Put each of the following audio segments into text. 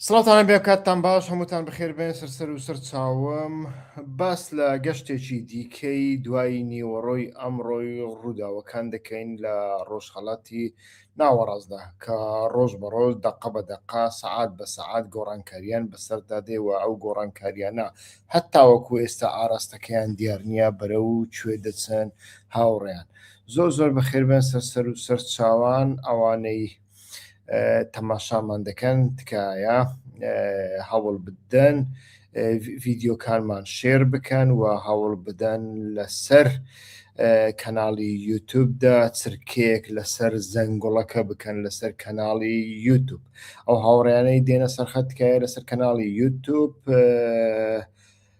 سڵاتانە بێ کاتتان باش هەمووتان بخێربێن سەرسەر و سەر چاوم باس لە گەشتێکی دیکەی دوای نیوەڕۆی ئەمڕۆی ڕووداوەکان دەکەین لە ڕۆژهڵاتی ناوەڕاستدا کە ڕۆژ بە ڕۆژ دەقە بە دەقا سەعات بە سەعات گۆڕانکاریان بەسەردا دێوە ئەو گۆڕانکاریانە هەتاوەکو ئێستا ئاراستەکەیان دیار نییە بەرە و کوێ دەچن هاوڕێیان زۆر زۆر بەخێربێن سەر سەر و سەر چاوان ئەوانەی تەماشامان دەکەن تکایە هەوڵ بدەن ڤیددیوکانمان شێر بکەن و هەوڵ بدەن لەسەر کەناڵی یوتوبدا چرکەیەک لەسەر زەنگوڵەکە بکەن لەسەر کەناڵی یوتوب ئەو هاوڕیانەی دێنە سەرخەتکایە لەسەر کەناڵی یوتوب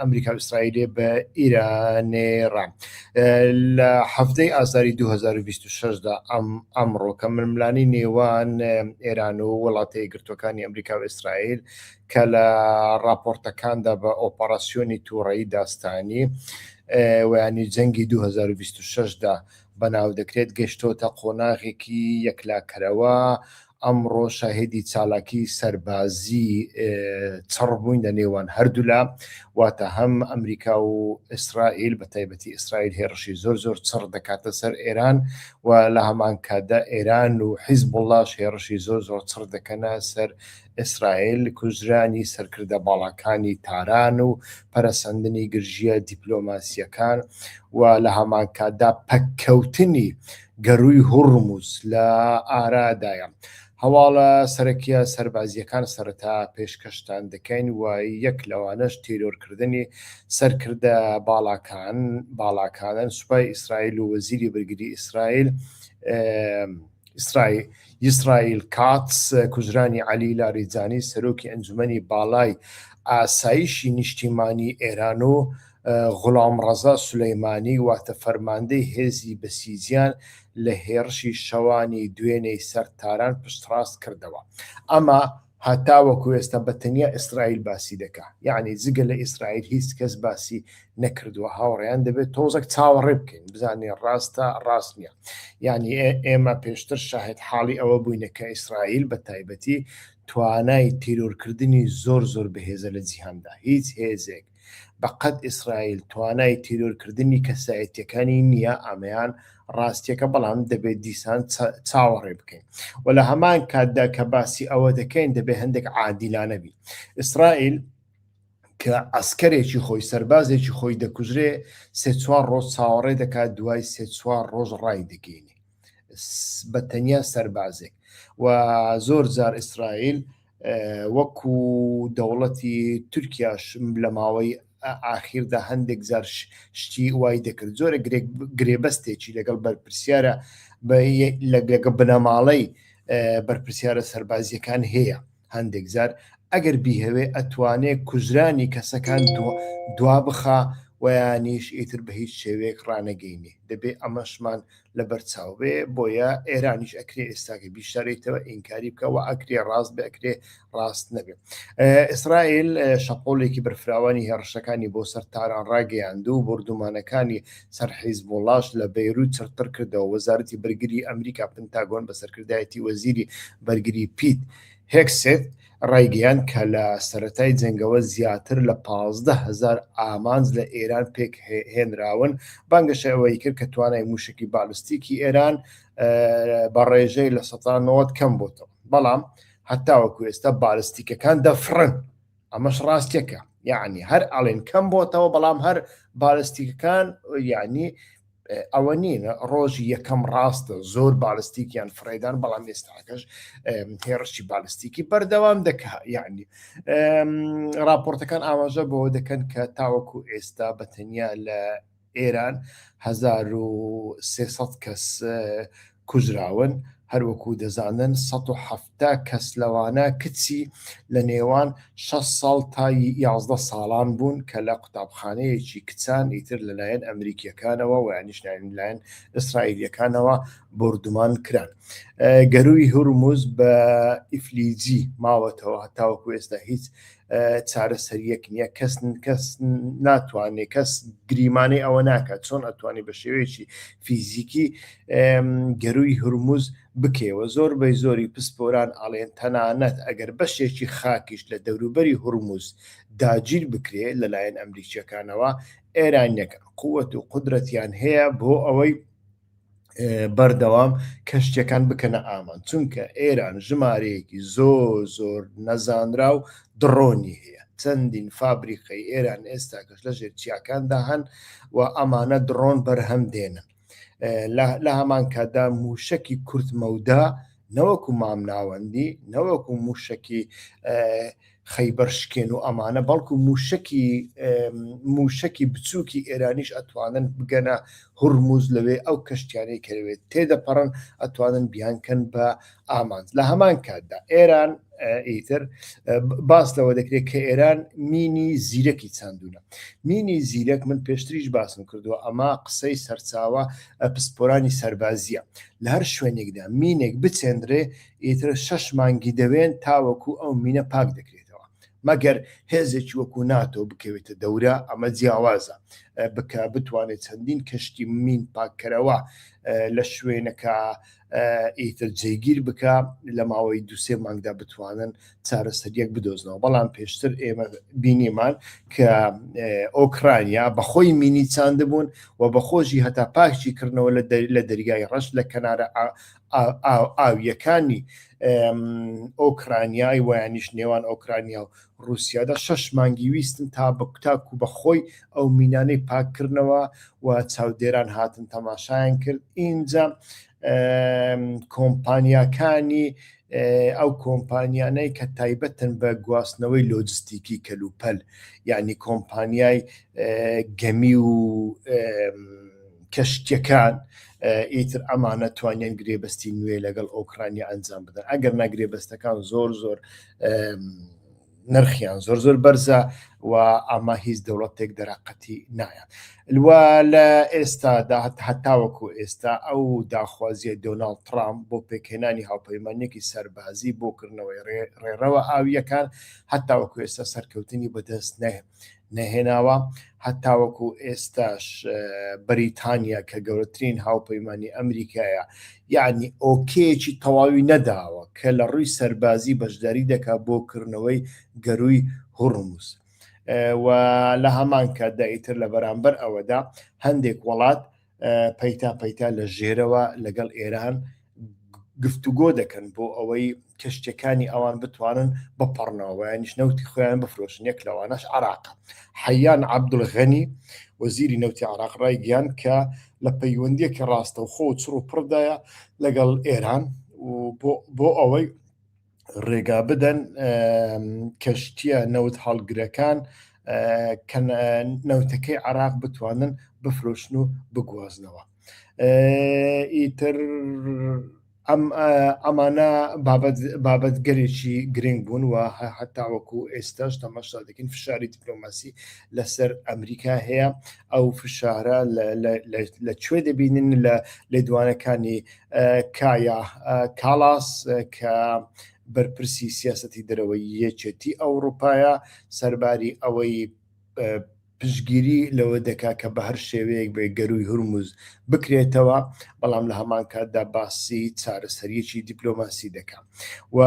ئەمریکا ئیسرائیلێ بە ئیرانێڕە لە هەفتەی ئازاری 2026دا ئەم ئەمڕۆ کە ململانی نێوان ئێران و وڵاتی گرتوەکانی ئەمریکا و ئیسرائیل کە لە راپۆرتەکاندا بە ئۆپەراسسیۆنی تووڕەی داستانی ویانی جەنگی 2026دا بەناو دەکرێت گەشتۆتە قۆناغێکی یەکلاکەرەوە ئەمڕۆ شاهێدی چالاکی سەربازی چڕ بووین لە نێوان هەردوولا واتە هەم ئەمریکا و ئیسرائیل بە تایبەتی ئیسرائیل هێڕشی زۆر زۆر چڕ دەکاتە سەر ئێران و لە هەمان کاتدا ئێران و حیز بڵاش هێڕشی زۆر زۆر چڕ دەکەنە سەر ئیسرائیل کوژرانی سەرکردە باڵاکانی تاران و پەرەسەندنی گرژیە دیپلۆماسیەکان و لە هەمان کاتدا پەککەوتنی گەرووی هوڕمز لە ئارادایە. هەواڵە سەرەکییە سەربازییەکان سەرەتا پێشکەشتان دەکەین و یەک لەوانەش تیرۆرکردنی سەرکردە باڵاکان باڵاکانن سوپای ئیسرائیل و وەزیری بەرگری ئیسرائیل ئیسرائیل یسرائیل کاتس کوژرانی علی لاریجانی سەرۆکی ئەنجومەنی باڵای ئاسایشی نیشتیمانی ئێران و غوڵامڕەزا سولەیمانی واتە فەرماندەی هێزی بەسیجیان لە هێڕشی شەوانی دوێنێی سەر تاران پشتڕاست کردەوە. ئەمە هەتاوەکو ئێستا بە تەنیا ئیسرائیل باسی دەکا. یەعنی جگە لە ئیسرائیل هیچ کەس باسی نەکردووە. هاوڕێیان دەبێ تۆزەک چاوەڕێ بکەین بزانین ڕاستە ڕاست نیە. یەعنی ئێمە پێشتر شاهێد حاڵی ئەوە بووینە کە ئیسرائیل بە تایبەتی توانای تیرۆرکردنی زۆر زۆر بەهێزە لە جیهاندا. هیچ هێزێک. بە قەد ئیسرائیل توانای تیرۆر کردنی کەسایەتیەکانی نییە ئامەیان ڕاستیەکە بەڵام دەبێت دیسان چاوەڕێ بکەین و لە هەمان کاتدا کە باسی ئەوە دەکەین دەبێت هەندێک عادیلانەبی ئیسرائیل کە ئەسکەرێکی خۆی سەربازێکی خۆی دەکوژرێ سێ چوار ڕۆژ چاوەڕێ دەکات دوای سێ چوار ڕۆژ ڕای دەگەینی بە تەنیا سەربازێک و زۆر جار ئیسرائیل وەکو دەوڵەتی تورکیاش لە ماوەی ئاخیردا هەندێک جار شتی وای دەکرد زۆرە گرێبەستێکی لەگەڵ بەرپرسیارە لەگە بنەماڵەی بەرپرسیارە سەربازیەکان هەیە هەندێک جار ئەگەر بیهەوێ ئەتوانێ کوژرانی کەسەکان دوا بخا ویانیش ئیتر بە هیچ شێوەیەک ڕانەگەینێ دەبێ ئەمەشمان لەبەر چاو بێ بۆیە ئێرانیش ئەکرێ ئێستاکە بیشارێتەوە ئینکاری بکەوە ئەکرێ ڕاست بێ ئەکرێ ڕاست نەبێ ئیسرائیل شەپۆلێکی بەرفراوانی هێڕشەکانی بۆ سەر تاران ڕاگەیاند و بردومانەکانی سەر حیز بۆڵاش لە بەیروت چرتر کردەوە وەزارەتی بەرگری ئەمریکا پنتاگۆن بە سەرکردایەتی وەزیری بەرگری پیت هێکسێت ڕایگەیاند کە لە سەرەتای جەنگەوە زیاتر لە پازدە هەزار ئامانج لە ئێران پێکهێنراون، بانگەشەی ئەوەی کرد کە توانای مووشەکی بالستیکی ئێران بە ڕێژەی لە سەتا نەوەد کەم بۆتەوە، بەڵام هەتاوەکو ئێستا بالستیکەکان دەفڕن، ئەمەش ڕاستیەکە، یەعنی هەر ئەڵێن کەم بۆتەوە، بەڵام هەر بالستیکەکان یەعنی ئەوە نین ڕۆژی یەکەم ڕاستە زۆر بالستیکیان فرێدان بەڵام ئێستاکەش هێڕشی بالستیکی بەردەوام دەکە یعنی راپۆرتەکان ئاماژە بەوە دەکەن کە تاوەکو ئێستا بە تەنیا لە ئێران 1300 کەس کوژراون، هەروەکو دەزانن سەد و حەفتا کەس لەوانە کچی لە نێوان شەش ساڵ تا یازدە ساڵان بوون کە لە قوتابخانەیەکی کچان ئیتر لەلایەن ئەمریکییەکانەوە وە یانیش لایەن ئیسرائیلییەکانەوە بۆردومان کران گەرووی هورموز بە ئیفلیجی ماوەتەوە هەتاوەکو ئێستا هیچ چارەسەریەک نییە کەس کەس ناتوانێت کەس گریمانەی ئەوە ناکات چۆن ئەتوانی بە شێوەیەکی فیزیکی گەروی هرمز بکەوە زۆر بەی زۆری پسپۆران ئاڵێن تەنانەت ئەگەر بەشێکی خاکیش لە دەوروبەری هرمز داگیر بکرێت لەلایەن ئەمریکیەکانەوە ئێرانیەکە قوت و قدرەتیان هەیە بۆ ئەوەی بەردەوام کەشتیەکان بکەنە ئامان چونکە ئێران ژمارەیەکی زۆر زۆر نەزانرا و دڕۆنی هەیە چەندین فابریقەی ئێران ئێستا کەش لە ژێر چیاکاندا هەن و ئەمانە دڕۆن بەرهەم دێنن لە هەمان کاتدا موشکی کورتمەودا نەوەکو مامناوەندی نەوەکو موشکی خەیبەر شکێن و ئەمانە بەڵکو موشەکی موشەکی بچووکی ئێرانیش ئەتوانن بگەنە هورموز لەوێ ئەو کەشتیانەی کەوێت تێدەپەڕن ئەتوانن بیانکەن بە ئامانج لە هەمان کاتدا ئێران ئیتر باس لەوە دەکرێت کە ئێران مینی زیرەکی چاندونە مینی زیرەک من پێشتریش باسم کردووە ئەما قسەی سەرچاوە پسپۆرانی سەربازیە لە هەر شوێنێکدا مینێک بچێندرێ ئیتر شەش مانگی دەوێن تاوەکو ئەو مینە پاک دەکرێتەوە مەگەر هێزێکی وەکو ناتۆ بکەوێتە دەورە ئەمە جیاوازە بکە بتوانێت چەندین کەشتی مین پاککەرەوە لە شوێنەکە ئیتر جێگیر بکە لە ماوەی دوسێ مانگدا بتوانن چارەسەریەک بدۆزنەوە بەڵام پێشتر ئێمە بینیمان کە ئۆکرانیا بەخۆی مینی چاندبوون و بەخۆشی هەتا پاکشی کردنەوە لە دەریای ڕەش لە کەنارە ئاوییەکانی ئۆکرانیای وەیانیش نێوان ئۆکرانیا و ڕووسیادا شەش مانگی ویستن تاکو بە خۆی ئەو مینانەی پاک کردنەوە و چاودێران هاتن تەماشایان کرد ئینجا کۆمپانیاکانی ئەو کۆمپانیانەی کە تایبەتن بە گواستنەوەی لۆجستیکی کەلوپەل یعنی کۆمپانیای گەمی و کەشتیەکان ئیتر ئەمانە توانیان گرێبەستی نوێ لەگەڵ ئۆکرانیا ئەنجام بدەن ئەگەر نا گرێبەستەکان زۆر زۆر نرخیان زۆر زۆر بەرزە و ئەمە هیچ دەوڵەتێک دەراقەتی نایە لوا لە ئێستادا هەتاوەکو ئێستا ئەو داخوازیە دۆناڵد ترامپ بۆ پێکهێنانی هاوپەیمانێکی سەربازی بۆکردنەوەی ڕێڕەوە ئاویەکان هەتاوەکو ئێستا سەرکەوتنی بەدەست نەهێت نەهێناوە هەتاوەکو ئێستاش بەریتانیا کە گەورەترین هاوپەیمانانی ئەمریکایە یعنی ئۆکێکی تەواوی نەداوە کە لە ڕووی سەربازی بەشداری دەکات بۆ کردنەوەی گەروی هوڕموس و لە هەمان کاتدا ئیتر لە بەرامبەر ئەوەدا هەندێک وڵات پەیتا پەیتا لە ژێرەوە لەگەڵ ئێران گفتوگۆ دەکەن بۆ ئەوەی کەشتەکانی ئەوان بتوانن بپەڕنەوەیانیش نەوتی خۆیان بفرۆشن یەک لەوانەش عراق حەیان عبدولغەنی وەزیری نەوتی عراق ڕای گیان کە لە پەیوەندیەکی ڕاستەوخۆ و چڕ و پڕدایە لەگەڵ ئێران بۆ ئەوەی ڕێگا بدەن کەشتیە نەوت هەڵگرەکان نەوتەکەی عراق بتوانن بفرۆشن و بگوازنەوە ئیتر ئەم ئەمانە بابەت گەلێکی گرنگ بوون و هەتا وەکو ئێستاش تەماشا دەکەین فشاری دیپلۆماسی لەسەر ئەمریکا هەیە ئەو فشارە لە کوێ دەبینن لە لێدوانەکانی کایا کاڵاس کە بەرپرسی سیاسەتی دەرەوەی یەکێتی ئەوڕوپایە سەرباری ئەوەی پشگیری لەوە دەکا کە بە هەر شێوەیەک بێ گەروی هورمز بکرێتەوە بەڵام لە هەمان کاتدا باسی چارەسەریەکی دیپلۆماسی دەکات. و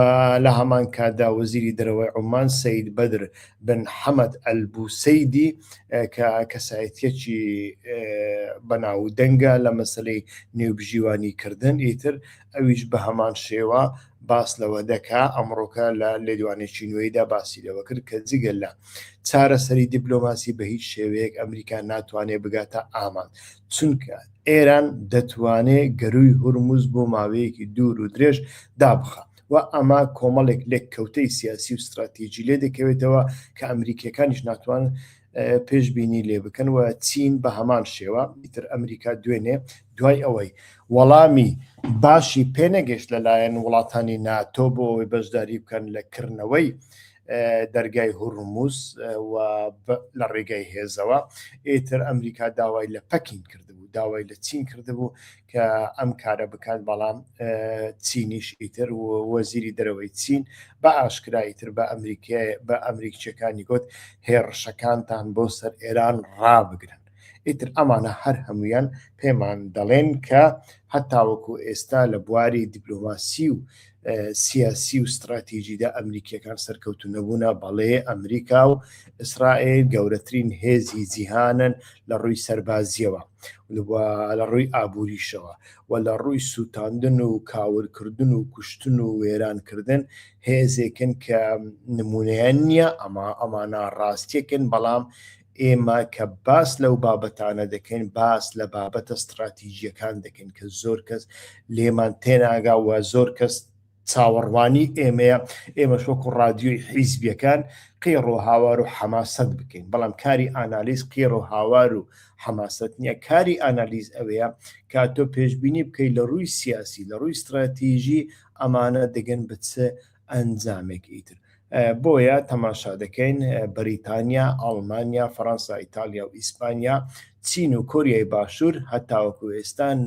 لە هەمان کاتدا وەزیری دەرەوەی عومان سەید بەدر بن حەمەد ئەلبوسەیدی کە کەسایەتیەکی بەناو دەنگە لە مەسلەی نێوبژیوانی کردن ئیتر ئەویش بە هەمان شێوە باس لەوە دەکا ئەمڕۆکە لە لێدوانێکی نوێیدا باسی لەوە کرد کە جگە لە چارەسەری دیبلۆماسی بە هیچ شێوەیەک ئەمریکا ناتوانێت بگاتە ئامانج چونکە ئێران دەتوانێ گەرووی هورمز بۆ ماوەیەکی دوور و درێژ دابخا و ئەمە کۆمەڵێک لێککەوتەی سیاسی و ستراتیجی لێ دەکەوێتەوە کە ئەمریکییەکانیش ناتوان پێشبینی لێ بکەن و چین بە هەمان شێوە ئیتر ئەمریکا دوێنێ دوای ئەوەی وەڵامی باشی پێنەگەشت لەلایەن وڵاتانی ناتۆ بۆ ئەوەی بەشداری بکەن لە کردنەوەی دەرگای هوڕموز و لە ڕێگای هێزەوە ئێتر ئەمریکا داوای لە پەکین کردبوو داوای لە چین کردبوو کە ئەم کارە بکات بەڵام چینیش ئیتر و وەزیری دەرەوەی چین بە ئاشکرایی تر بە ئەمریکای بە ئەمریکچەکانی گوت هێڕشەکانتان بۆ سەر ئێران ڕابگرن ئیتر ئەمانە هەر هەموویان پێمان دەڵێن کە هەتاوەکو ئێستا لە بواری دیپلۆماسی و سیاسی و ستراتیژیدا ئەمریکیەکان سەرکەوتو نەبوونا بەڵێ ئەمریکا و ئیسرائیل گەورەترین هێزی جیهانن لە ڕووی سەربازیەوە لە ڕووی ئابووریشەوە و لە ڕووی سووتاندن و کاورکردن و کوشتن و وێرانکردن هێزێکن کە نمونەیە نییە ئەما ئەمانە ڕاستیەکن بەڵام ئێمە کە باس لەو بابەتانە دەکەین باس لە بابەتە ستراتیژیەکان دەکەین کە زۆر کەس لێمان تێناگا و زۆر کەس چاوەڕوانی ئێمەیە ئێمە شۆک و ڕادیۆی حیزبیەکان قێڕۆ هاوار و حەماسەت بکەین بەڵام کاری ئانالیز قێڕۆ هاوار و حەماسەت نییە کاری ئانالیز ئەوەیە کا تۆ پێشببینی بکەیت لە ڕووی سیاسی لە ڕووی استراتیژی ئەمانە دەگەن بچ ئەنجامێک ئیتر بۆیە تەماشا دەکەین بەریتانیا ئاڵمانیا فەەنسا ئیتالیا و ئیسپانیا چین و کۆریای باشوور هەتاوەکو ئێستان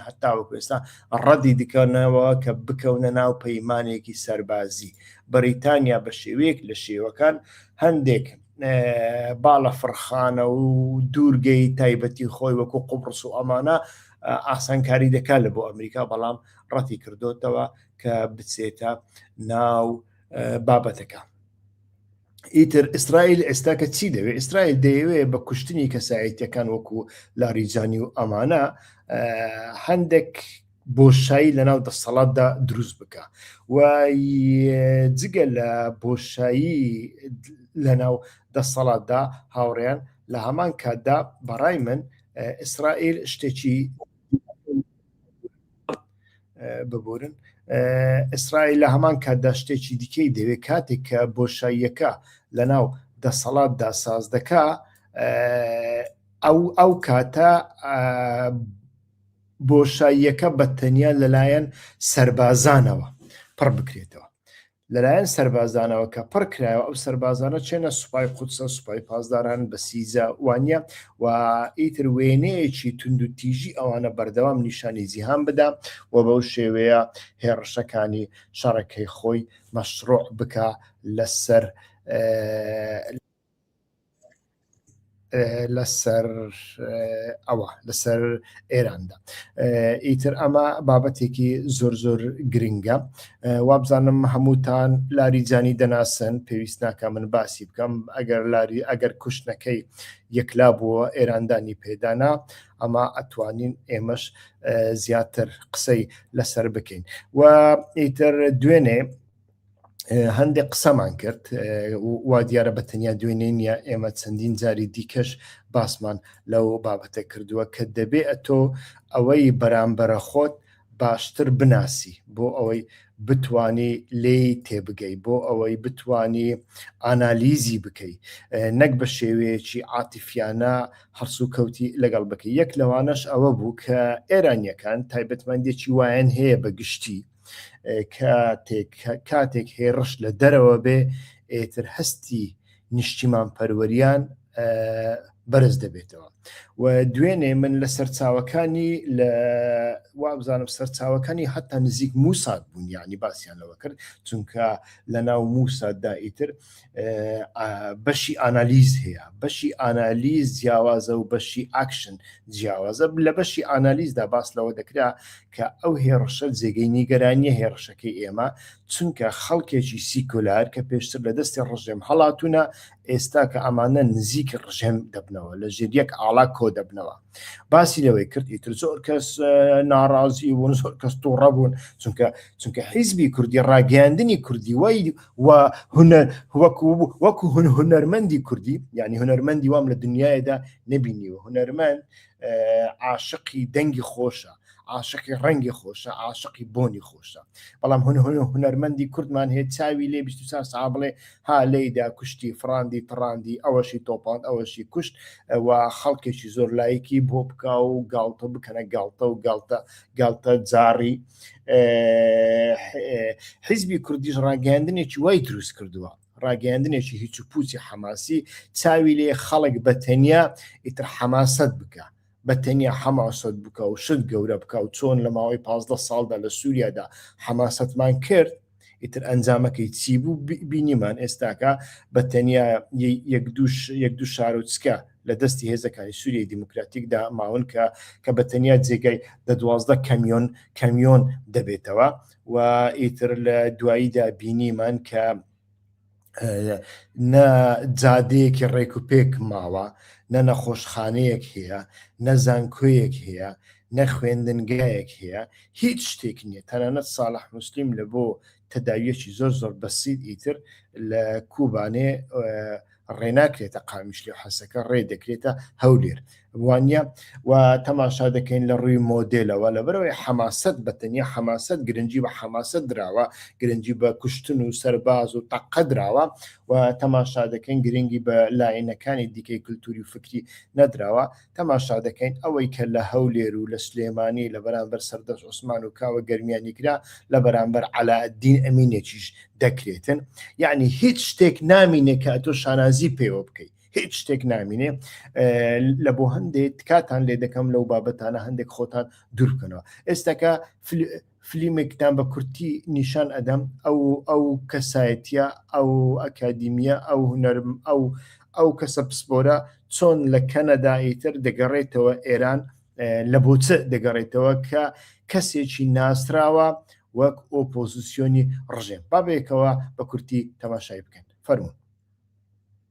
هەتاوەکو ئێستا ڕەدی دکەنەوە کە بکەونە ناو پەیمانێکی سەربازی بەریتانیا بە شێوەیەک لە شێوەکان هەندێک باڵە فڕخانە و دوورگەی تایبەتی خۆی وەکو قوبڕس و ئەمانە ئاسانکاری دەکات لە بۆ ئەمریکا بەڵام ڕەتی کردوتەوە کە بچێتە ناو بابەتەکە ئیتر ئیسرائیل ئێستاکە چی دەوێت ئیسرائیل دەیەوێت بە کوشتنی کەسایەتەکان وەکو لاریجانی و ئەمانە هەندێک بۆشایی لە ناو دەسەڵاتدا دروست بکە و جگە لە بۆشایی لە ناو دەسەڵاتدا هاوڕێن لە هەمان کاتدا بەڕای من ئیسرائیل شتێکی ببورن ئیسرائیل لە هەمان کاتدا شتێکی دیکەی دەوێ کاتێک کە بۆشاییەکە لە ناو دەسەڵاتدا ساز دەکا ئەو ئەو کاتە بۆشاییەکە بە تەنیا لەلایەن سربازانەوە پڕ بکرێتەوە لەلایەن سەربازانەوە کە پڕ کرایەوە ئەو سەربازانە چێنە سوپای قودسە سوپای پاسداران بە سیزە وانە و ئیتر وێنەیەکی تونند و تیژی ئەوانە بەردەوام نیشانی جیهان بدا و بەو شێوەیە هێڕشەکانی شەڕەکەی خۆی مەشروع بکە لەسەر لەسەر ئەوە لەسەر ئێراندا ئیتر ئەمە بابەتێکی زۆر زۆر گرنگە وابزانم هەمووتان لاری جانی دەناسن پێویست ناکە من باسی بکەم ئەگەر لاری ئەگەر کوشتنەکەی یەکلا بووە ئێراندانی پێدانا ئەمە ئەتوانین ئێمەش زیاتر قسەی لەسەر بکەین و ئیتر دوێنێ هەندێک قسەمان کرد وا دیارە بە تەنیا دوێنێ نیە ئێمە چەندین جاری دیکەش باسمان لەو بابەتە کردووە کە دەبێ ئەتۆ ئەوەی بەرامبەرە خۆت باشتر بناسی بۆ ئەوەی بتانی لێی تێبگەی بۆ ئەوەی بتانی ئانالیزی بکەی نەک بە شێوەیەکی عاتیفیانە هەرسو کەوتی لەگەڵ بکە یەک لەوانەش ئەوە بوو کە ئێرانیەکان تایبەتمەندێکی وایەن هەیە بە گشتی کاتێک کاتێک هێڕش لە دەرەوە بێ ئێتر هەستی نیشتیمان پەروەریان بەرز دەبێتەوە و دوێنێ من لە سەرچاوەکانی لە وابزانم سەرچاوەکانی حتا نزیک موسات بوون یعنی باسییانەوە کرد چونکە لە ناو موساتدا ئیتر بەشی ئانالیز هەیە بەشی ئانالیز جیاوازە و بەشی ئاکشن جیاوازە لە بەشی ئانالیزدا باس لەوە دەکرا کە ئەو هێڕشە جێگەی نیگەرانیە هێڕشەکەی ئێمە چونکە خەڵکێکی سیکۆلار کە پێشتر لە دەستی ڕژێم هەڵاتونە ئێستا کە ئەمانە نزیکی ڕژێم دەبنەوە لە ژێر یەک ئاڵا کۆ دەبنەوە باسی لەوەی کرد ئیتر زۆر کەس ناڕازی بوون زۆر کەس تووڕە بوون چونکە چونکە حیزبی کوردی ڕاگەاندنی کوردی وای و هونەر وەکو وەکو هون هونەرمەندی کوردی یعنی هونەرمەندی وام لە دنیادا نبینیوە هونەرمەند عاشقی دەنگی خۆشە عاشقی ڕەنگی خۆشە عاشقی بۆنی خۆشە بەڵام هەن هەن هوەرمەندی کوردمان هەیە چاوی لێ بیست سا سا بڵێ ها لێدا کوشتی فراندی تڕاندی ئەوەشی تۆپان ئەوەشی کوشت و خەڵکێکی زۆر لایەکی بۆ بکا و گاڵتە بکەنە گاڵتە و گاڵتە گاڵتە جاڕی حیزبی کوردیش ڕاگەاندنێکی وای دروست کردووە ڕاگەاندنێکی هیچ و پوچی حەماسی چاوی لێ خەڵک بە تەنیا ئیتر حەماست بکە بە تەنیا حەماسەت بکە و شت گەورە بکە و چۆن لە ماوەی پازدە ساڵدا لە سووریادا حەماسەتمان کرد ئیتر ئەنجامەکەی چی بوو بینیمان ئێستاکە بە تەنیا یەک دوش یەک دوو شارۆچکە لە دەستی هێزەکانی سووریای دیموکراتیکدا ماون کە کە بە تەنیا جێگای دە دوازدە کەمیۆن کەمیۆن دەبێتەوە و ئیتر لە دواییدا بینیمان کە نە جادەیەکی ڕێک و پێک ماوە نە نەخۆشخانەیەک هەیە نە زانکۆیەک هەیە نە خوێندنگایەک هەیە هیچ شتێک نییە تەنانەت ساڵح مسلیم لە بۆ تەداویەکی زۆر زۆر بەسیید ئیتر لە کوبانێ ڕێناکرێتە قامیشلۆ حەسەکە ڕێ دەکرێتە هەولێر وانە و تەماشا دەکەین لە ڕووی مۆدلەوە لە بەرەوەی حەماست بە تەنیا حەماست گرنگجی بە حەماسە دراوە گرنگجی بە کوشتن و سەرباز و تەقە دراوە و تەماشا دەکەین گرنگی بە لایەنەکانی دیکەی کللتوری و فکری نەدراوە تەماشا دەکەین ئەوەی کە لە هەولێر و لە سلێمانی لە بەرامبەر سەردەشت عوسمان و کاوە گەرمیانی کرا لە بەرامبەر عەلائەدین ئەمینێکیش دەکرێتن یعنی هیچ شتێک نامینێ کە ئەتۆ شانازی پێوە بکەیت هیچ شتێک نامینێ لە بۆ هەندێک تکاتان لێ دەکەم لەو بابەتانە هەندێک خۆتان دوورکەنەوە ئێستاکە فلیمێکتان بە کورتی نیشان ئەدەم ئەو ئەو کەسایەتە ئەو ئەکادیمیە ئەو هونەرم ئەو ئەو کەسە پسپۆرە چۆن لە کەنەدا ئیتر دەگەڕێتەوە ئێران لە بۆچ دەگەڕێتەوە کە کەسێکی ناسراوە وەک ئۆپۆزیسیۆنی ڕژێم بابێکەوە بە کورتی تەماشای بکەن فەرمون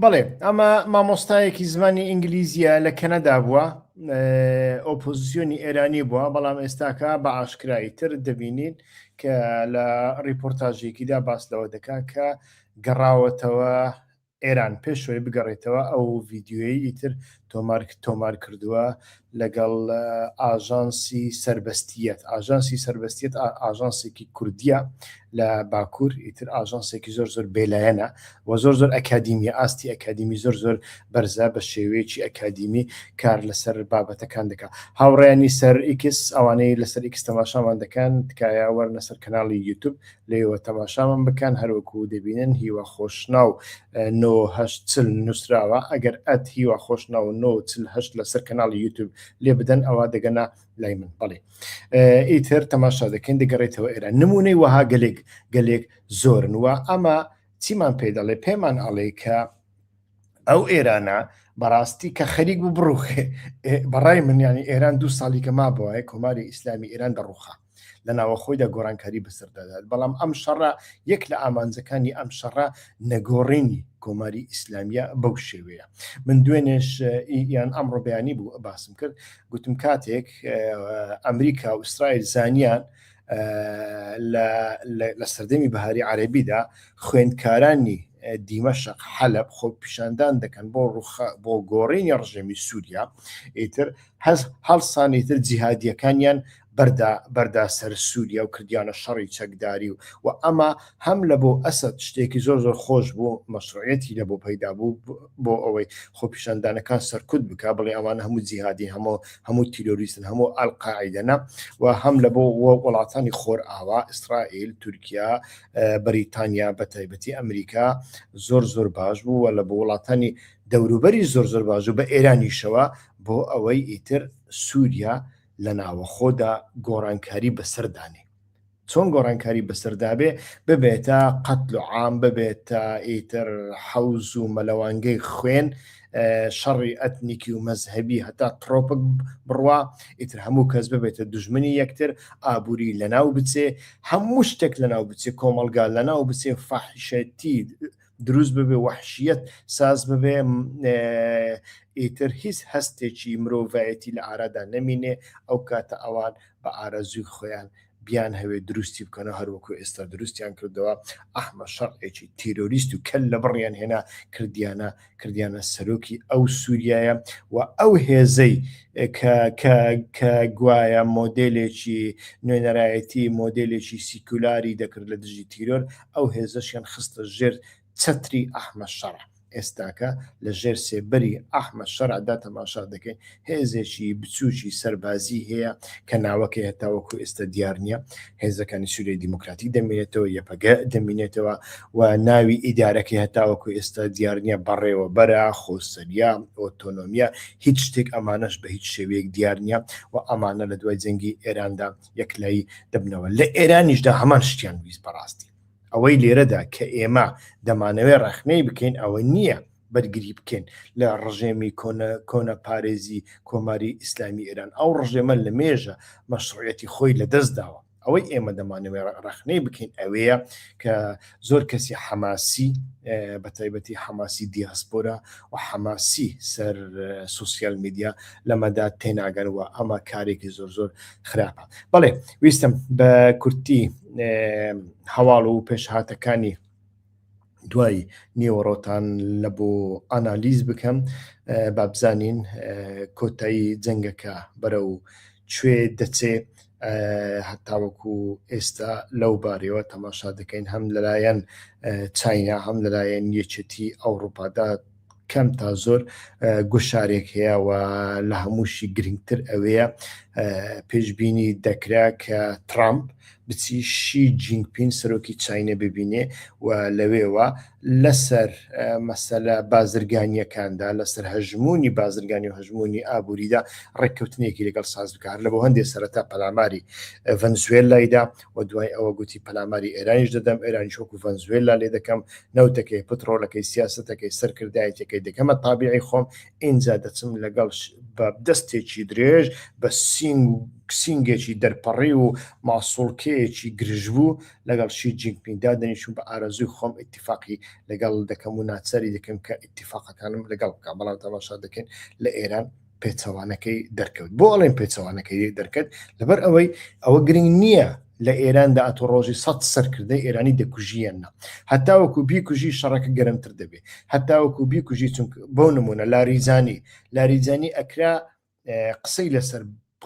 بەڵێ ئەمە مامۆستایەکی زمانی ئینگلیزیە لە کەنەدا بووە ئۆپۆزیسیۆنی ئێرانی بووە بەڵام ئێستاکە بە ئاشکرایی تر دەبینین کە لە ڕیپۆرتاژێکیدا باس لەوە دەکا کە گەڕاوەتەوە ئێران پێشەوەی بگەڕێتەوە ئەو ڤیددیوی ئیتر تۆمارک تۆمار کردووە لەگەڵ ئاژانسی سەربەستییەت، ئاژانسی سەربەستییەت ئاژانسێکی کوردییە لە باکوور، ئیتر ئاژانسێکی زۆر زۆر بێلایەنە و زۆر زۆر ئەکادیمیە، ئاستی ئەکادیمی زۆر زۆر بەرزە، بە شێوەیەکی ئەکادیمی کار لەسەر بابەتەکان دەکا. هاوڕێیانی سەر ئیکس، ئەوانەی لەسەر ئیکس تەماشامان دەکەن، تکایە وەرنە سەر کەناڵی یوتوب، لێوە تەماشامان بکەن هەروەکو دەبینن هیوا خۆشناو نۆ هەشت چل نووسراوە ئەگەر ئەت هیوا خۆشناو نۆ چل هەشت لەسەر کەناڵی یوتوب لێ بدەن ئەوە دەگەنا لای من بەڵێ ئیتر تەماشا دەکەین دەگەڕێتەوە ئێرە نمونەی وەها گەلێک گەلێک زۆرن وە ئەمە چیمان پێ دەڵێ پێمان ئەڵێ کە ئەو ئێرانە بەڕاستی کە خەریک بوو بڕوخێ بەڕای منیانی ئێران دوو ساڵی کە ما بۆە کۆماری ئیسلامی ئێران دەڕوخا لە ناوەخۆیدا گۆڕانکاری بەسەر دەدات بەڵام ئەم شەڕە یەک لە ئامانجەکانی ئەم شەڕە نەگۆڕینی کۆماری ئیسلامیە بەو شێوەیە من دوێنێش یان ئەمڕۆ بەیانی بوو باسم کرد گوتم کاتێک ئەمریکا و ئیسرائیل زانیان لە سەردەمی بەهاری عەربیدا خوێندکارانی دیمەشق حەلب خۆ پیشاندان دەکەن بۆ ڕوخە بۆ گۆڕینی ڕژێمی سووریا ئیتر هەز هەڵسانی تر جیهادیەکانیان بەردا بەردا سەر سووریا و کردیانە شەڕی چەکداری و و ئەمە هەم لە بۆ ئەسەد شتێکی زۆر زۆر خۆش بوو مەشروعەتی لە بۆ پەیدا بوو بۆ ئەوەی خۆپیشاندانەکان سەرکوت بک بڵێ ئەوانە هەموو جیهادین هەموو هەموو تیرۆریستن هەموو ئەلقاعدەنا و هەم لە بۆ وڵاتانی خۆر ئاوا ئیسرائیل تورکیا بەریتانیا بە تایبەتی ئەمریکا زۆر زۆر باش بوو لە بۆ وڵاتانی دەوروبەری زۆر زۆر باش و بە ئێرانیشەوە بۆ ئەوەی ئیتر سووریا لە ناوەخۆدا گۆڕانکاری بەسەردانێ چۆن گۆڕانکاری بەسەردابێ ببێتە قەتل و عام ببێتە ئیتر حەوز و مەلەوانگەی خوێن شەڕی ئەتنیکی و مەزهبی هەتا ترۆپک بڕوا ئیتر هەموو کەس ببێتە دژمنی یەکتر ئابووری لەناو بچێ هەموو شتێک لەناو بچێ کۆمەلگا لەناو بچێ فەحشەتی دروست ببێ وحشیت ساز ببێ ئیتر هیچ هەستێکی مرۆڤایەتی لە ئارادا نەمینێ ئەو کاتە ئەوان بە ئارەزوی خۆیان بیانهەوێ دروستی بکەنەوە هەروەکو ئێستا دروستیان کردەوە ئەحمە شەڕعێکی تیرۆریست و کەل لە بڕیان هێنا کردیانە کردیانە سەرۆکی ئەو سووریایە و ئەو هێزەی کە گوایە مۆدلێکی نوێنەرایەتی مۆدلێکی سیکولاری دەکرد لە دژی تیرۆر ئەو هێزەشیان خستە ژێر چەتری ئەحمەد شەرع، ئێستاکە لە ژێر سێبەری ئەحمەد شەرع دا تەماشا دەکەین، هێزێکی بچووکی سەربازی هەیە کە ناوەکەی هەتاوەکو ئێستا دیار نییە، هێزەکانی سووریای دیموکراتیک دەمینێتەوە، یەپەگە دەمینێتەوە و ناوی ئیدارەکەی هەتاوەکو ئێستا دیار نییە، بەڕێوەبەرە، خۆسەرییە، ئۆتۆنۆمییە، هیچ شتێک ئەمانەش بە هیچ شێوەیەک دیار نییە و ئەمانە لە دوای جەنگی ئێراندا یەکلایی دەبنەوە. لە ئێرانیش دا هەمان شتیان ویست بە ڕاستی. ئەوەی لێرەدا کە ئێمە دەمانەوێت ڕەخنەی بکەین ئەوە نییە بەرگری بکەین لە ڕژێمی کۆنە کۆنە پارێزی کۆماری ئیسلامی ئێران ئەو ڕژێمە لە مێژە مەشڕەتی خۆی لە دەست داوە ئەوەی ئێمە دەمانەوێ ڕەخنەی بکەین ئەوەیە کە زۆر کەسی حەماسی بە تایبەتی حەماسی دیاسپۆرا و حەماسی سەر سوسیال میدیا لەمەدا تێناگەن و ئەمە کارێکی زۆر زۆر خراپە بەڵێ ویستم بە کورتی هەواڵ و پێشهاتەکانی دوای نێوەڕۆتان لە بۆ ئانالیز بکەم بابزانین کۆتایی جەنگەکە بەرە و کوێ دەچێ هەتاوەکو ئێستا لەو بارەوە تەماشا دەکەین هەم لەلایەن چاینا هەم لەلایەن یەکێتی ئەوروپادا کەم تا زۆر گوشارێک هەیە و لە هەمووشی گرنگتر ئەوەیە پێشببینی دەکرا کە ترامپ بچی شی جینگپین سەرۆکی چینە ببینێ و لەوێوە لەسەر مەسەلە بازرگانیەکاندا لەسەر هەژمونی بازرگانی و هەژمونی ئابووریدا ڕێککەوتنێکی لەگەڵ ساز بکار لە بۆ هەندێک سەرەتا پەلاماری ڤەنزوێلایدا و دوای ئەوە گوتی پەلاماری ئێرانیش دەدەم، ئێرانیش وەکو ڤەنزوێللا لێ دەکەم، نەوتەکەی، پتڕۆلەکەی، سیاسەتەکەی، سەرکردایەتیەکەی دەکەمە تابیعی خۆم، ئینجا دەچم لەگەڵ بە دەستێکی درێژ، بە سینگ و سینگێکی دەرپەڕیو و ماسوڵکەیەکی گرژبوو لەگەڵ شی جینگ پینگ دادەنیشم بە ئارەزووی خۆم ئیتیفاقی لەگەڵ دەکەم و ناچاری دەکەم کە ئیتیفاقەکانم لەگەڵ بکا، بەڵام تەماشا دەکەین لە ئێران، پێچەوانەکەی دەرکەوت بۆ ئەڵێن پێچەوانەکەی دەرکەت لەبەر ئەوەی ئەوە گرنگ نییە لە ئێراندا ئەتۆ ڕۆژی سە سەرکردەی ئێرانی دەکوژیەنە هەتاوەکو بیکوژی شەڕەکە گەرمتر دەبێت هەتاوەکو بیکوژی چون بەو نمونە لاریزانی لاریزانی ئەکرا قسەی لەسەر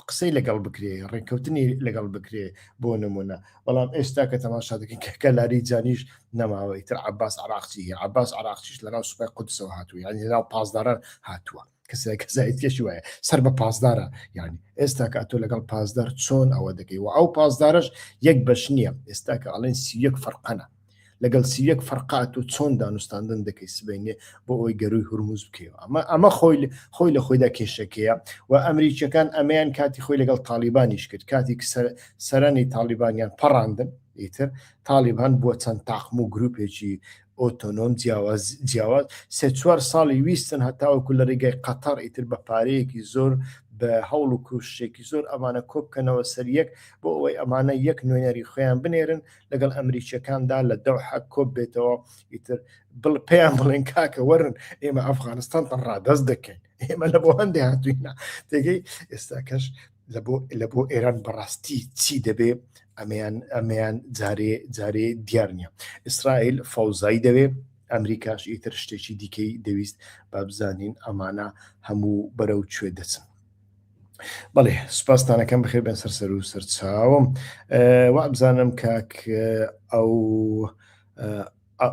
قسەی لەگەڵ بکرێ ڕێککەوتنی لەگەڵ بکرێ بۆ نمونە بەڵام ئێستا کە تەماشا دەکەن کەکە لاری جانیش نەماوەی تر عباس عراقچی عباس عراقچیش لەناو سوپای قودسەوە هاتووە یان لەناو پاسداران هاتووە کەسای کەسایتێکی وایە سەر بە پاسدارە یعنی ئێستا کە ئەتۆ لەگەڵ پاسدار چۆن ئەوە دەکەی و ئەو پاسدارش یەک بەش نییە ئێستا کە ئەڵێن سیەک فەرقەنە لەگەڵ سیەک فەرقات و چۆن دانوستاندن دەکەی سبینێ بۆ ئەوی گەروی هورمز بکەیەوە ئەمە ئەمە خۆی خۆی لە خۆیدا کێشەکەیە و ئەمریکیەکان ئەمەیان کاتی خۆی لەگەڵ تاالبانیش کرد کاتی سەرانی تاالبانیان پەڕاندن ئیتر تاالبان بووە چەند تاقم و گروپێکی ئۆتۆنۆم جیاواز جیاواز سێ چوار ساڵی ویستن هەتاوەکو لە ڕیگای قەتەڕ ئیتر بە پارەیەکی زۆر بە هەوڵ و کوشتێکی زۆر ئەمانە کۆبکەنەوە سەر یەک بۆ ئەوەی ئەمانە یەک نوێنەری خۆیان بنێرن لەگەڵ ئەمریکیەکاندا لە دەوحە کۆب بێتەوە ئیتر بڵ پێیان بڵێن کاکە وەرن ئێمە ئەفغانستان ڕادەست دەکەین ئێمە لە بۆ هەندێ هاتوینە تێگەی ئێستاکەش لە بۆ ئێران بەڕاستی چی دەبێ ئەمیان ئەمیان جارێ جارێ دیار نییە ئیسرائیل فەوزایی دەوێ ئەمریکاش ئیتر شتێکی دیکەی دەویست با بزانین ئەمانە هەموو بەرەو کوێ دەچن بەڵێ سوپاستانەکەم بخێ بێن سەر سەر و سەرچاوم وا بزانم کاک ئەو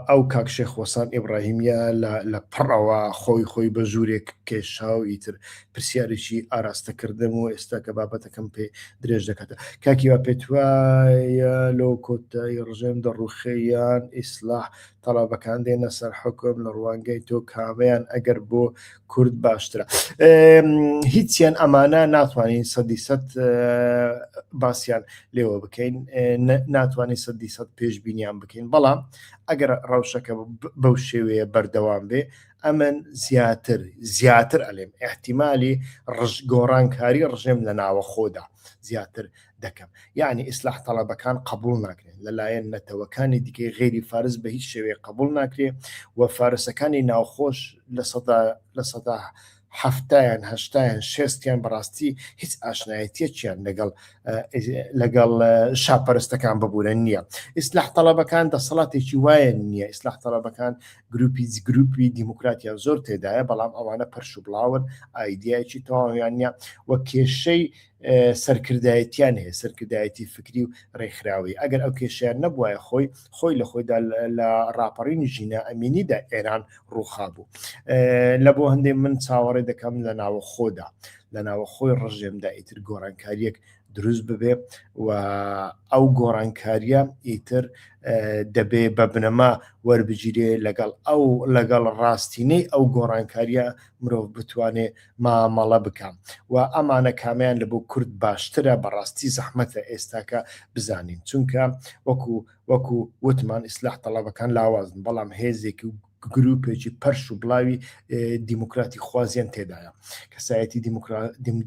ئەو کاک شێخ وەسان ئیبڕاهیمیە لە لە پڕەوە خۆی خۆی بە ژوورێک کێشا و ئیتر پرسیارێکی ئاراستە کردم و ئێستا کە بابەتەکەم پێ درێژ دەکاتە کاکی وا پێت وایە لۆ کۆتایی ڕژێم دەڕوخێ یان ئیسلاح تەڵەبەکان دێنە سەر حوکم لە ڕوانگەی تۆ کامەیان ئەگەر بۆ کورد باشترە هیچیان ئەمانە ناتوانین سەدی سەد باسییان لێوە بکەین ناتوانین سەدی سەد پێشبینیان بکەین بەڵام ئەگەر ڕەوشەکە بەو شێوەیە بەردەوام بێ ئەمن زیاتر زیاتر ئەلێم احتیممالی ڕژ گۆڕانکاری ڕژێم لە ناوەخۆدا زیاتر دەکەم یعنی ئیسلاح تەڵەبەکان قبول ناکرێن لەلایەن نەتەوەکانی دیکەی غێری فارس بە هیچ شێوەیە قبول ناکرێ و فارسەکانی ناوخۆش لە سەدا لە سەدا هەفتیان هەشتایان شێستیان بەڕاستی هیچ ئاشنایەتیەکیان لەگەڵ لەگەڵ شاپەرستەکان ببوورە نییە ئیسلاح تەڵەبەکان دەسەڵاتێکی وایە نییە ئیسلاح تەڵەبەکان گروپی گروپی دیموکراتیان زۆر تێدایە بەڵام ئەوانە پەرش و بڵاون ئایدایکی تەواویان نیە وە کێشەی سەرکردایەتیان هەیە سەرکردایەتی فکری و ڕێکخراوی ئەگەر ئەو کێشیان نەبواە خۆی خۆی لە خۆیدا لە ڕاپەڕینی ژینا ئەمینیدا ئێران ڕووخا بوو لە بۆ هەندێک من چاوەڕێ دەکەم لە ناوە خۆدا لە ناوە خۆی ڕژێمدا ئیتر گۆڕانکاریەک دروست ببێ و ئەو گۆڕانکاریە ئیتر دەبێ بە بنەما وەربگیرێ لەگەڵ ئەو لەگەڵ ڕاستینەی ئەو گۆڕانکاریە مرۆڤ بتوانێ مامەڵە بکەم و ئەمانە کامیان لە بۆ کورد باشترە بەڕاستی زەحمەتە ئێستاکە بزانین چونکە وەکو وەکو وتمان ئیسلاح تەڵەبەکان لاوازن بەڵام هێزێکی و گروپێکی پەرش و بڵاوی دیموکراتی خوازیان تێدایە کەسایەتی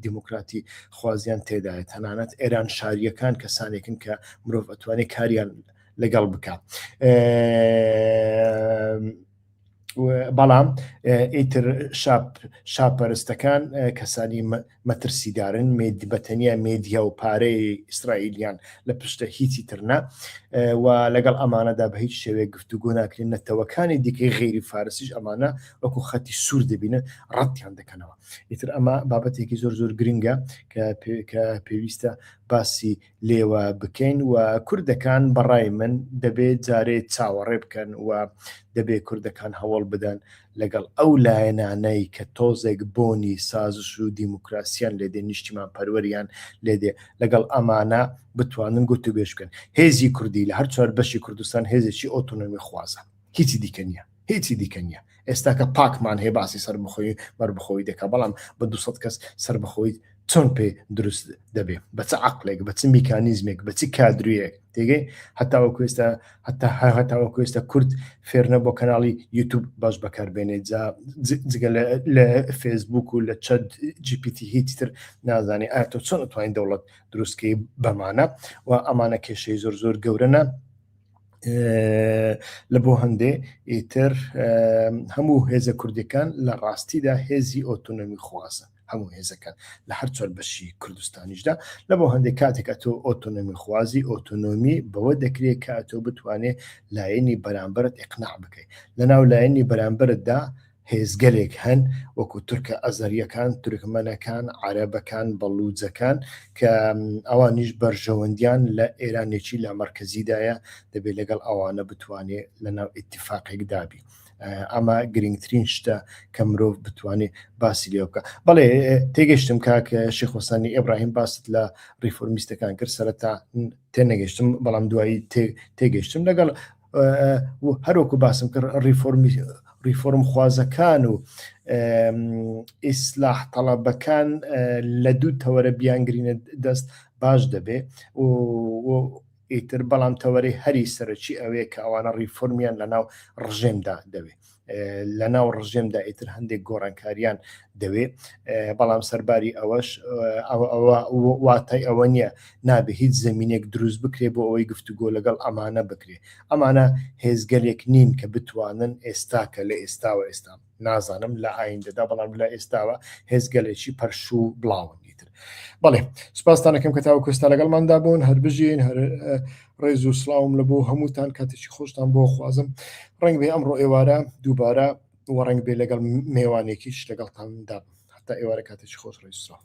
دیموکراتی خوازیان تێدایە تەنانەت ئێران شاریەکان کەسانێکن کە مرۆڤ ئەتوانێت کاریان لەگەڵ بکە بەڵام ئیتر شاپ شاپەرستەکان کەسانی مەترسیدارن مێد بە تەنیا مێدیا و پارەی ئیسرائیلیان لە پشتە هیچی ترنا و لەگەڵ ئەمانەدا بە هیچ شێوێک گفتوگۆ ناکرێن نەتەوەکانی دیکەی غێری فارسیش ئەمانە وەکو خەتی سوور دەبینن ڕەتیان دەکەنەوە ئیتر ئەمە بابەتێکی زۆر زۆر گرنگە کە پێویستە باسی لێوە بکەین و کوردەکان بەڕای من دەبێ جارێ چاوەڕێ بکەن و دەبێ کوردەکان هەوڵ بدەن لەگەڵ ئەو لایەنانەی کە تۆزێک بۆنی سازش و دیموکراسیان لێدێ نیشتیمان پەروەریان لێدێ لەگەڵ ئەمانە بتوانن گوت و بێژ بکەن هێزی کوردی لە هەر چوار بەشی کوردستان هێزێکی ئۆتۆنۆمی خوازە. هیچی دیکە نییە هیچی دیکە نییە ئێستاکە پاکمان هەیە باسی سەربخۆی بەربخۆی دەکە بەڵام بە دو کەس سەربخۆیت چۆن پێ دروست دەبێ بە چ عقلێک بە چ میکانیزمێک بە چ کادرویەک تێگەی هەتاوە کوێستە هەتا هە هەتاوە کوێستە کورد فێرنە بۆ کەناڵی یوتوب باش بەکاربێنێت جا جگە لە فێسبوک و لە چەد جیپیتی هیچ تر نازانێ ئایا تۆ چۆن توانین دەوڵەت دروستکەی بەمانە و ئەمانە کێشەی زۆر زۆر گەورەە لە بۆ هەندێ ئیتر هەموو هێزە کوردەکان لە ڕاستیدا هێزی ئۆتۆنۆمی خوازن هەموو هێزەکان لە هەر چۆر بەشی کوردستانیشدا لە بۆ هەندێک کاتێک ئەتۆ ئۆتۆنۆمی خوازی ئۆتۆنۆمی بەوە دەکرێت کە ئەتۆ بتوانێت لایەنی بەرامبرت ئەقناع بکەیت لە ناو لایەنی بەرامبرتدا هێزگەلێک هەن وەکو تورکە ئەزەریەکان، تورکمەنەکان، عەرەبەکان، بەڵوجەکان کە ئەوانیش بەرژەوەندیان لە ئێرانێکی لامەرکەزیدایە دەبێت لەگەڵ ئەوانە بتوانێ لەناو ئیتفاقێک دابی. ئەمە گرنگترین شتە کە مرۆڤ بتوانێت باسی لێ بکە بەڵێ تێگەشتم کاک شیخۆسانی ئێبراهیم باست لە ریفۆرمیستەکان کرد سەرتا تێنەگەشتم بەڵام دوایی تێگەشتم لەگەڵ هەروەکو باسم کرد ڕیفۆرمی ڕیفۆرم خوازەکان و ئیسلاح تەڵەبەکان لە دوو تەوەرە بیانگرینە دەست باش دەبێ ئیتر بەڵام تەوەری هەری سەرەکی ئەوەیە کە ئەوانە ڕیفۆرمیان لە ناو ڕژێمدا دەوێت لە ناو ڕژێمدا ئیتر هەندێک گۆڕانکاریان دەوێ بەڵام سەرباری ئەوەش واتای ئەوە نییە نابێ هیچ زمینێک دروست بکرێ بۆ ئەوەی گفتوگۆ لەگەڵ ئەمانە بکرێ ئەمانە هێزگەلێک نین کە بتوانن ئێستا کە لە ئێستاوە ئێستا نازانم لە ئایندەدا بەڵام لە ئێستاوە هێزگەلێکی پەرشوو بڵاون بەڵێ سپاستانەکەم کە تاوە کوستا لەگەڵماندا بوون هەربژین هەر ڕێز و سڵاوم لە بۆ هەمووتان کاتێکی خۆشتان بۆ خوازم ڕنگ بێ ئەمڕۆ ئێوارە دووبارە و ڕنگ بێ لەگەڵ مێوانێکیش لەگەڵتاندا هەتا ئێوارە کاتێکی خۆش ڕێز سڵاو